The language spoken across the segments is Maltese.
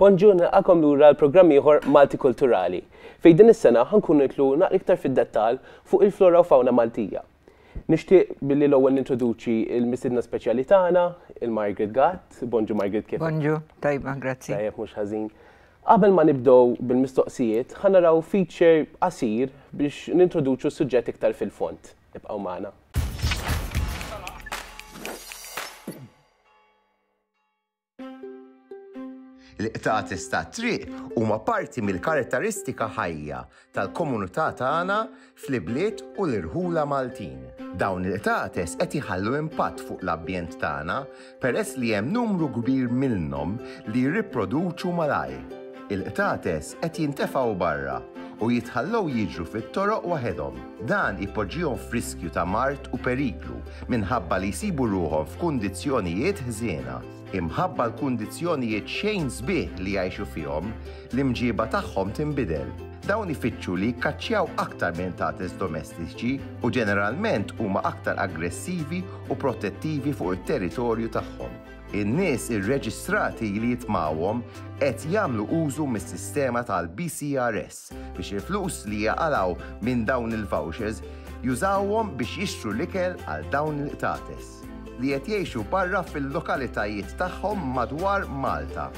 Bonjour nilqakom lura għal programm ieħor Malti Kulturali, fejn din is-sena ħa nkunu nidħlu naqra iktar fid-dettall fuq il-flora u fawna Maltija. Nixtieq billi l-ewwel nintroduċi l-mistiedna speċjali tagħna, il-Margaret Gatt. Bonġu Margaret kif? Bonġu, tajba, grazzi. Tajjeb mhux ħażin. Qabel ma nibdew bil-mistoqsijiet, ħa naraw feature qasir biex nintroduċu s-suġġett iktar fil-fond. Ibqgħu magħna. L-iqtates tat-triq huma parti mill-karatteristika ħajja tal-komunità tagħna fl-ibliet u l-irħula Maltin. Dawn il-qtates qed iħallu impatt fuq l-ambjent tagħna peress li hemm numru kbir minnhom li jirriproduċu malajr. Il-qtates qed jintefgħu barra u jitħallew jiġru fit-toroq waħedhom. Dan ipoġġihom f'riskju ta' mard u periklu minħabba li jsibu ruħhom f'kundizzjonijiet ħżiena. Imħabba l-kundizzjonijiet xejn sbieħ li jgħixu fihom, l-imġieba tagħhom tinbidel. Dawn ifittxu li jikkaċċjaw aktar minn qtates domestiċi u ġeneralment huma aktar aggressivi u protettivi fuq it-territorju tagħhom. In-nies irreġistrati li jitmgħuhom qed jagħmlu użu mis-sistema tal-BCRS biex il-flus li jaqalgħu minn dawn il-vouchers jużawhom biex jixtru l-ikel għal dawn il-qtates li qed jgħixu barra fil-lokalitajiet tagħhom madwar Malta.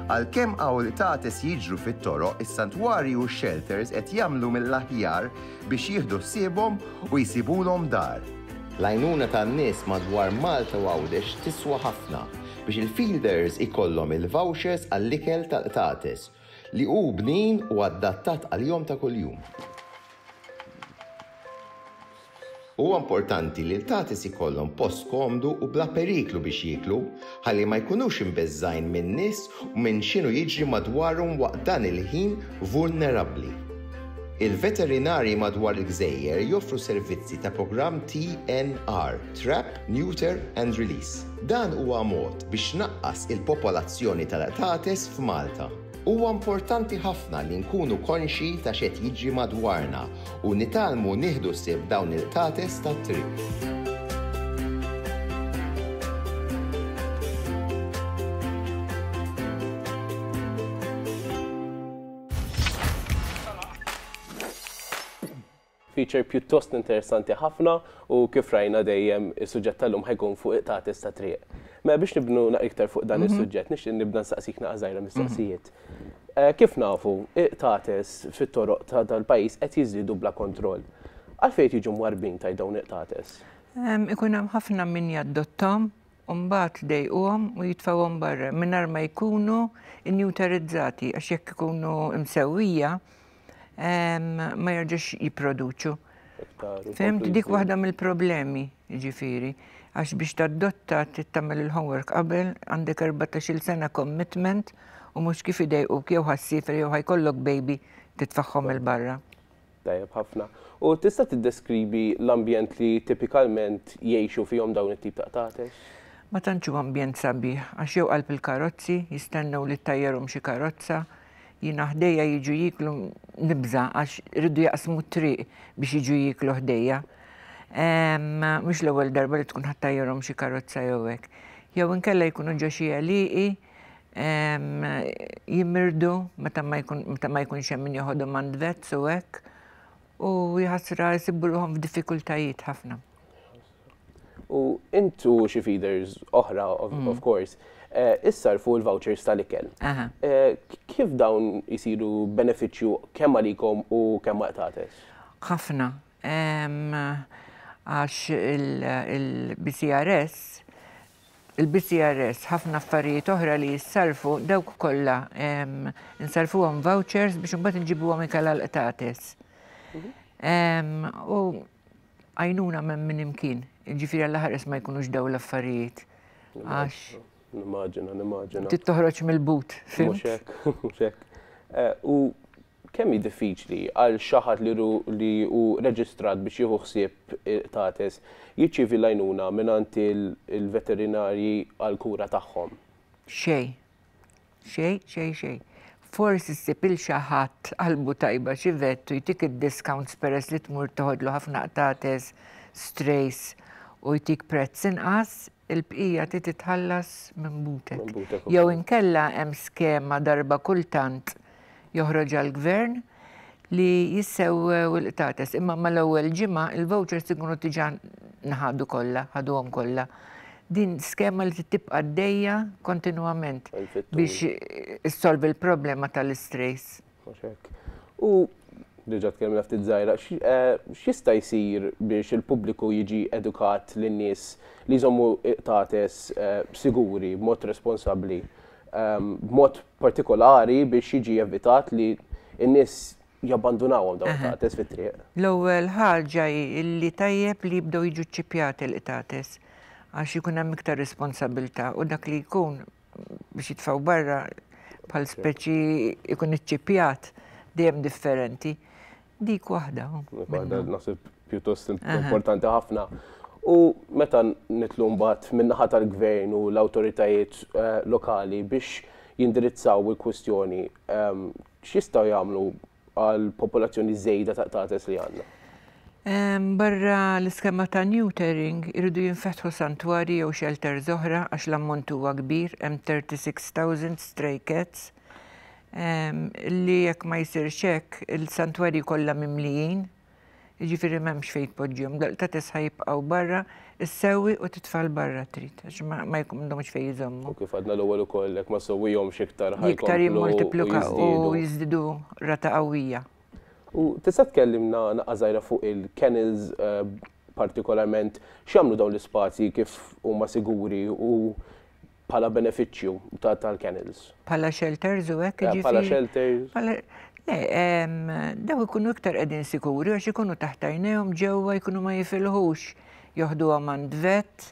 Għalkemm awritates jiġru fit-toroq, is-santwarji u x-xelters qed jagħmlu mill-aħjar biex jieħdu ħsiebhom u jsibulhom dar. L-għajnuna tan-nies madwar Malta u Għawdex tiswa ħafna biex il-feeders ikollhom il-vouchers għall-ikel tal-qtates li hu bnin u adattat għalihom ta' kuljum. Huwa importanti li l-qtates ikollhom post komdu u bla periklu biex jieklu, ħalli ma jkunux imbeżżgħin min-nies u minn x'inhu jiġri madwarhom waqt dan il-ħin vulnerabbli. Il-veterinarji madwar il-gżejjer joffru servizzi ta' programm TNR, Trap, Neuter and Release. Dan huwa mod biex tnaqqas il-popolazzjoni tal-qtates f'Malta. Huwa importanti ħafna li nkunu konxji ta' x'qed jiġri madwarna u nitgħallmu nieħdu ħsieb dawn il-qtates tat-triq. Feature pjuttost interessanti ħafna u kif rajna dejjem is-suġġett tal-lum ħa jkun fuq iqtates ta' triq. Mela biex nibnu iktar fuq dan is-suġġett nixtieq nibda nsaqsik naqa' żgħira mistoqsijiet. Kif nafu iqtates fit-toroq ta' dal-pajjiż qed jiżdiedu bla kontroll. Għalfejn qed jiġu mwarrbin tajt dawn iqtates? Ikun hemm ħafna min jaddotthom u mbagħad jdejquhom u jitfgħuhom barra mingħajr ma jkunu injutarizzati għax jekk ikunu msewwija ma jarġax jipproduċu. Fimt dik waħda mill-problemi, ġifiri, għax biex tad-dotta tittamel il-homework qabel għandek 14 sena commitment u mhux kif u jew ħassifer jew ħajkollok baby titfaħħom il-barra. Tajjeb ħafna. U tista' tiddeskribi l-ambjent li tipikalment jgħixu fihom dawn it-tip ta' qtatex? Ma tantx ambjent sabiħ, għax jew qalb il-karozzi, jistennew li tajjerhom xi karozza, Jiena ħdejja jiġu jieklu nibża' għax iridu jaqsmu t-triq biex jiġu jieklu ħdejja. Mhux l-ewwel darba li tkun ħadd tajjarhom xi karozza jew hekk. Jew inkella jkunu ġo xi għelieqi jimirdu meta ma jkunx hemm min joħodhom għand vets u hekk u jaħasra jsibu ruħhom f'diffikultajiet ħafna. U intu xi feeders oħra, of mm. course, eh, issarfu l-vouchers tal-ikel. Eh, kif dawn jisiru beneficju kemm għalikom u kemm għaqtates? ħafna. Għax il-BCRS, il-BCRS ħafna affarijiet oħra li jissarfu dawk kollha nsarfu għom vouchers biex imbagħad nġibu għom ikala l-qtates. Mhm. U Għajnuna m'hemm minn imkien, jiġifieri Alla ħares ma jkunux dawn l-affarijiet. Għax. Nimmaġina, nimmaġina. Trid toħroġ mill-but. Mhux hekk, mhux hekk. Eh, u kemm hi diffiċli għal xi ħadd li hu reġistrat biex jieħu ħsieb tates jiċċievi l-għajnuna mingħand il-veterinarji għall-kura tagħhom? Xejn. Xejn, xejn, xejn. Forsi ssib 'il xi ħadd qalbu tajba xi vett u jtik id-discounts peress li tmur teħodlu ħafna qtates, strays, u jtik prezz inqas, il-bqija trid titħallas minn butek. Jew inkella hemm skema darba kultant Joħroġ għall-Gvern li jissewwew il-qtates imma mal-ewwel ġimgħa l-vouchers ikunu diġà nħadu kollha, ħaduhom kollha. Din skema li trid tibqa' għaddejja kontinwament biex issolvi l-problema tal-istrays. Mhux hekk. U, diġà tkellimna ftit żgħira, x'jista' jsir biex il-pubbliku jiġi edukat li n-nies li jżommu l-qtates siguri b'mod responsabbli b'mod partikolari biex jiġi evitat li n-nies jabbandunawhom dawn il-qtates fit-triq. L-ewwel ħaġa hi li tajjeb li jibdew jiġu ċċipjati l-qtates għax ikun hemm iktar responsabilità u dak li jkun biex jitfgħu barra bħal speċi jkun iċċipjat dejjem differenti. Dik waħda. Dik waħda naħseb pjuttost importanti ħafna. U meta nitlu mbagħad min-naħa tal-gvern u l-awtoritajiet eh, lokali biex jindirizzaw il-kwistjoni, ehm, x'jistgħu jagħmlu għal popolazzjoni żejda ta' tates li għandna? Ehm, barra l-iskema ta' neutering irridu jinfetħu santwari jew shelter oħra għax l-ammont huwa kbir hemm 36,000 stray cats li jekk ma jsirx hekk il-santwarji kollha mimlijin, jiġifieri m'hemmx fejn tpoġġihom, daqta' tisħa jibqgħu barra, issewwi u titfal barra trid għax ma m'għandhomx fejn jżommhom. U kif għadna l-ewwel ukoll jekk ma ssewwihomx iktar ħa jkomplu jiżdiedu. Iktar jimmultiplikaw u jiżdiedu rata qawwija. U tista' tkellimna naqqa' żgħira fuq il-kennels partikolarment x'jagħmlu dawn l-ispazji kif huma siguri u Bħala benefiċċju ta' tal-kennels. Bħala shelters u hekk Eh, jiġifieri. Bħala shelters. Bħala- Le, em, daw ikunu iktar qegħdin sikuri għax ikunu taħt għajnejhom ġewwa jkunu ma jifilħux. Joħduhom għand vet,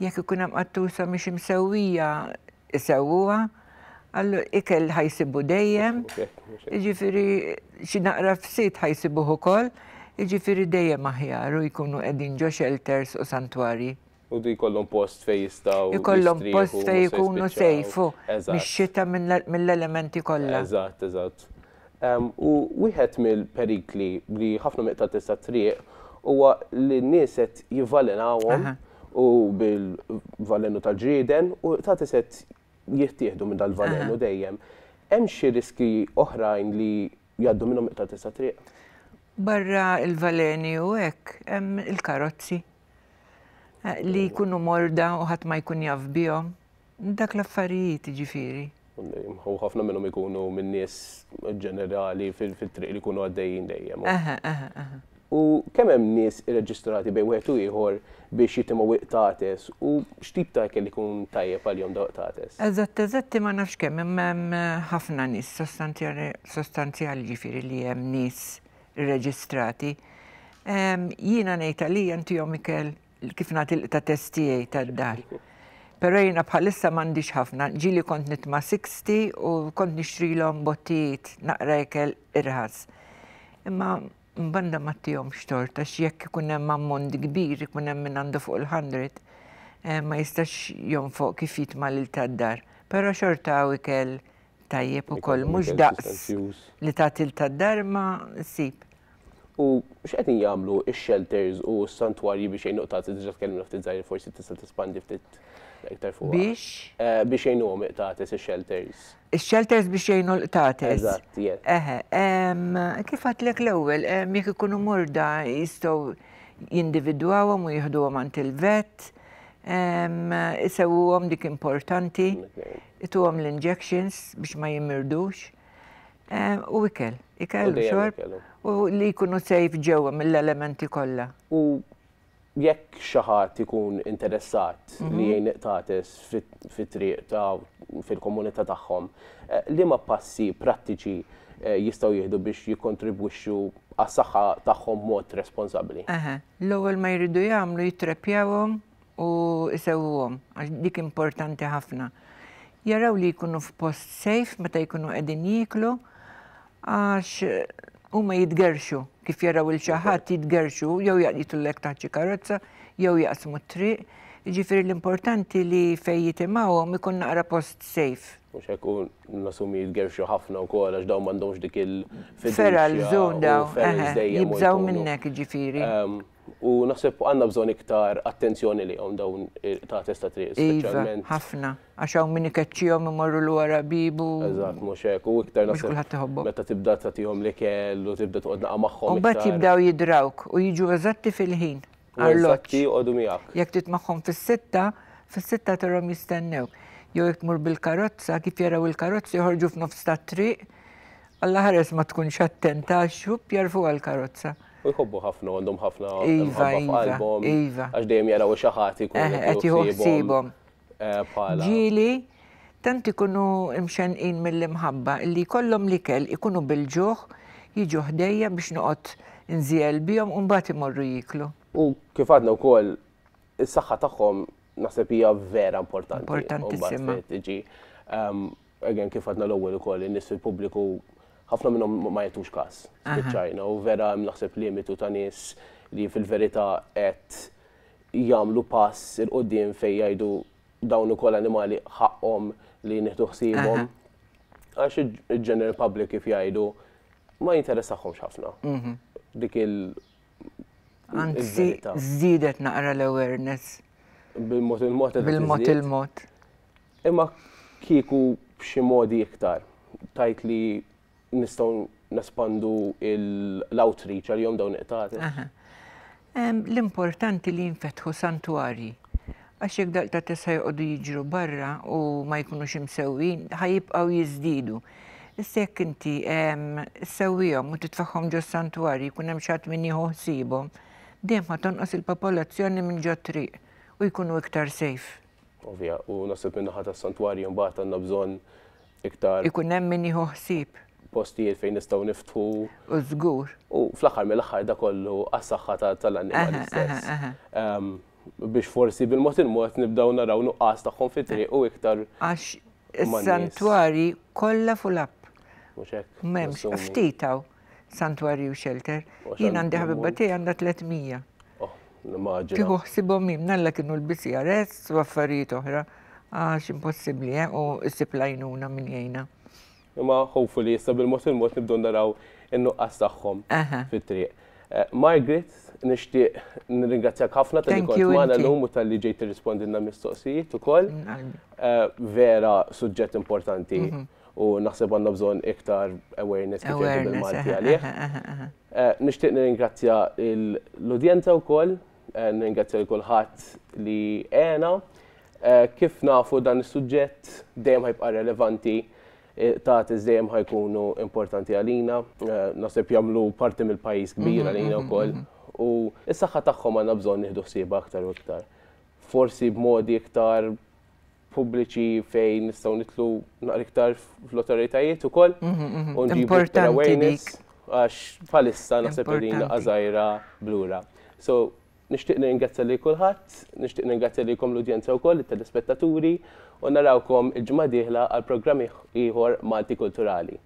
jekk ikun hemm qattusa mhix imsewwija isewwuha, allu ikel ħajsibu dejjem. Okej, mhux hekk. Jiġifieri xi naqra fsit ħajsibuh ukoll, jiġifieri dejjem aħjar u jkunu qegħdin ġo shelters u santwarji. U jkollhom post fejn jistgħu. Ikollhom post fejn ikunu safe, u mix-xita mill-elementi kollha. Eżatt, eżatt. U wieħed mill-perikli li ħafna miqtatis tat-triq huwa li n-nies qed jivvalenawhom u bil-valenu tal-ġrieden u iqtatis qed jittieħdu minn dal-valenu dejjem. Hemm xi riskji oħrajn li jgħaddu minnhom iqtatis tat-triq? Barra l-valeni u hekk, hemm il-karozzi. Li jkunu morda u ħadd ma jkun jaf bihom. Dak l-affarijiet jiġifieri. U ħafna minnhom ikunu minn nies ġenerali fit-triq li jkunu għaddejjin dejjem. Aha, aha, aha. U kemm hemm nies irreġistrati bejn wieħed u ieħor biex jitimgħu iqtates u x'tip ta' ikel ikun tajjeb għalihom dawn iqtates? Eżatt, eżatti ma nafx kemm, imma hemm ħafna nies sostanzjali jiġifieri li hemm nies irreġistrati, jiena ngħid għalija ntihom ikel kif nagħti l-qta' test tiegħi tad-dar. Però jiena bħalissa m'għandix ħafna, ġieli kont nitma' Sixty u kont nixtrilhom bottijiet naqra ikel irħas. Imma mbanda ma tihomx tort għax jekk ikun hemm ammont kbir ikun hemm min għandu fuq il-hundred ma jistax jonfoq kif jitma' l-ilta d-dar. Però xorta hawn ikel Tajjeb ukoll, mhux daqs li tagħti l tad-dar ma ssib. U x'qegħdin jagħmlu x-shelters u s-santwarji biex jgħinu qtati diġà tkellimna ftit żgħir forsi tista' tispandi ftit iktar fuq. Biex? Biex jgħinuhom iqtates ix-shelters. Ix-shelters biex jgħinu l-qtates. Eżatt, yes. Eħe, kif għedtlek l-ewwel, jekk ikunu morda jistgħu jindividwawhom u jieħduhom għand il-vet, isewwuhom dik importanti. ituhom l-injections biex ma jimmirdux, eh, u ikel, ikel u xorb, u li jkunu sejf ġewwa mill-elementi kollha. U jekk xi ħadd ikun interessat mhm. li jgħin iqtates fit-triq ta' fil-komunità tagħhom, eh, li ma passi prattiċi eh, jistgħu jieħdu biex jikkontribwixxu għas-saħħa tagħhom mod responsabbli. L-ewwel ma jridu jagħmlu jittrepjawhom u jsewwuhom għax dik importanti ħafna. Jaraw li jkunu f'post safe meta jkunu qegħdin jieklu għax huma jitgerxu kif jaraw il xi ħadd jitgerxu jew jaqlitulek taħt xi karozza jew jaqsmu t-triq. Jiġifieri l-importanti li fejn jitimgħuhom ikun naqra post safe. U xekku nasumi jitgerxu ħafna u kol, għax daw mandomx dik il-fidel. Feral zone daw, jibżaw minnek ġifiri. Ehm, U naħseb għandna bżonn iktar attenzjoni lihom dawn il-qtates ta' triq, Iva, speċjalment. ħafna. Għax hawn min ikeċċihom imorru l wara bib u. Eżatt, mhux hekk. U iktar Mhux naħseb kulħadd iħobbhom. meta tibda tagħtihom l-ikel u tibda toqgħod naqa' magħhom. U mbagħad iktar. jibdew jidrawk u jiġu eżatti fil-ħin. U Arloġġ. eżatti joqogħdu miegħek. Jekk trid magħhom fis-sitta, fis-sitta tarahom jistennewk. Jew jekk tmur bil-karozza, kif jaraw il-karozza joħorġu f'nofs tat-triq Alla ħares ma tkunx attenta għax-xupp jarfuha l-karozza. U jħobbu ħafna u għandhom ħafna mħabba f'qalbhom. Iva, iva. Għax dejjem jaraw xi ħadd li jkun qed jieħu ħsiebhom. Bħala. Ġieli, tant ikunu mxennqin mill-imħabba li jkollhom l-ikel ikunu bil-ġuħ jiġu ħdejja biex noqgħod nżiegħel bihom u mbagħad imorru jieklu. U kif għadna wkoll, is-saħħa tagħhom naħseb hija vera importanti. Importantissima. Mbagħad trid tiġi Again kif għadna l-ewwel ukoll in-nies fil-pubbliku ħafna minnhom ma jagħtux każ. Spiċċajna u vera hemm naħseb limitu ta' nies li fil-verità qed jagħmlu pass 'il quddiem fejn jgħidu dawn ukoll animali ħaqqhom li nieħdu ħsiebhom. Għax il-general public kif jgħidu ma jinteressahomx ħafna. Mhm. Dik il Anzi, żdiedet naqra l-awareness. Bil-mod il-mod. Bil-mod il-mod. Imma kieku b'xi modi iktar tgħid li nistgħu nespandu l-outreach għalihom dawn il-qtati? Aha. L-importanti li jinfetħu santwarji. Għax jekk dal-qtati issa joqogħdu jiġru barra u ma jkunux imsewwin, ħa jibqgħu jiżdiedu. Issa jekk inti ssewwihom u titfagħhom ġos-santwarji jkun hemm xi ħadd min jieħu ħsiebhom, dejjem ħa tonqos il-popolazzjoni minn ġot-triq u jkunu iktar safe. Ovvja, u naħseb min-naħa tas-santwarji mbagħad għandna bżonn iktar. Ikun hemm min jieħu ħsieb. Postijiet fejn nistgħu niftħu. U żgur. U fl-aħħar mill-aħħar da kollu għas-saħħa tal-annimali stess biex forsi bil-mod il-mod nibdaw naraw nuqqas tagħhom fi triq u iktar. Għax is-santwari kollha full up. Mhux hekk. M'hemmx, ftitaw. Santwarju Shelter. Jien għandi ħabibba tiegħi għandha 300. Oh, l-immaġina. Tieħu ħsibhom minn nalla kienu l-BCRS u affarijiet oħra għax impossibbli eh, u ssib lajnuna minn jgħinha. Imma hopefully issa bil-mod il-mod nibdew naraw in-nuqqas tagħhom fit-triq. Eh, Margaret, nixtieq nirringrazzjak ħafna tal-li kont magħna llum u tal-li ġejt tirrispondilna mistoqsijiet ukoll. Eh, vera suġġett importanti. Mhm. u naħseb għandna bżonn iktar awareness kif jgħidu bil-Malti għalih. Eh, nixtieq nirringrazzja l-udjenza wkoll, eh, nirringrazzja l kulħadd li għena. Eh, kif nafu dan is-suġġett dejjem ħajbqa' relevanti ta' dejjem ħajkunu importanti għalina, naħseb jagħmlu parti mill-pajjiż kbir mm-hmm, għalina mm-hmm, wkoll mm-hmm. u s-saħħa tagħhom għandna bżonn nieħdu ħsieba aktar u iktar. Forsi b'modi iktar pubbliċi fejn nistgħu nitlu naqra iktar fl-awtoritajiet ukoll u nġibu iktar awareness għax bħalissa naħseb li din għażajra blura. So, nixtieq ningrazzja lil kulħadd, nixtieq ningrazzja lilkom l-udjenza wkoll, it-telespettaturi, u narawkom il-ġimgħa dieħla għal programm ieħor Malti Kulturali.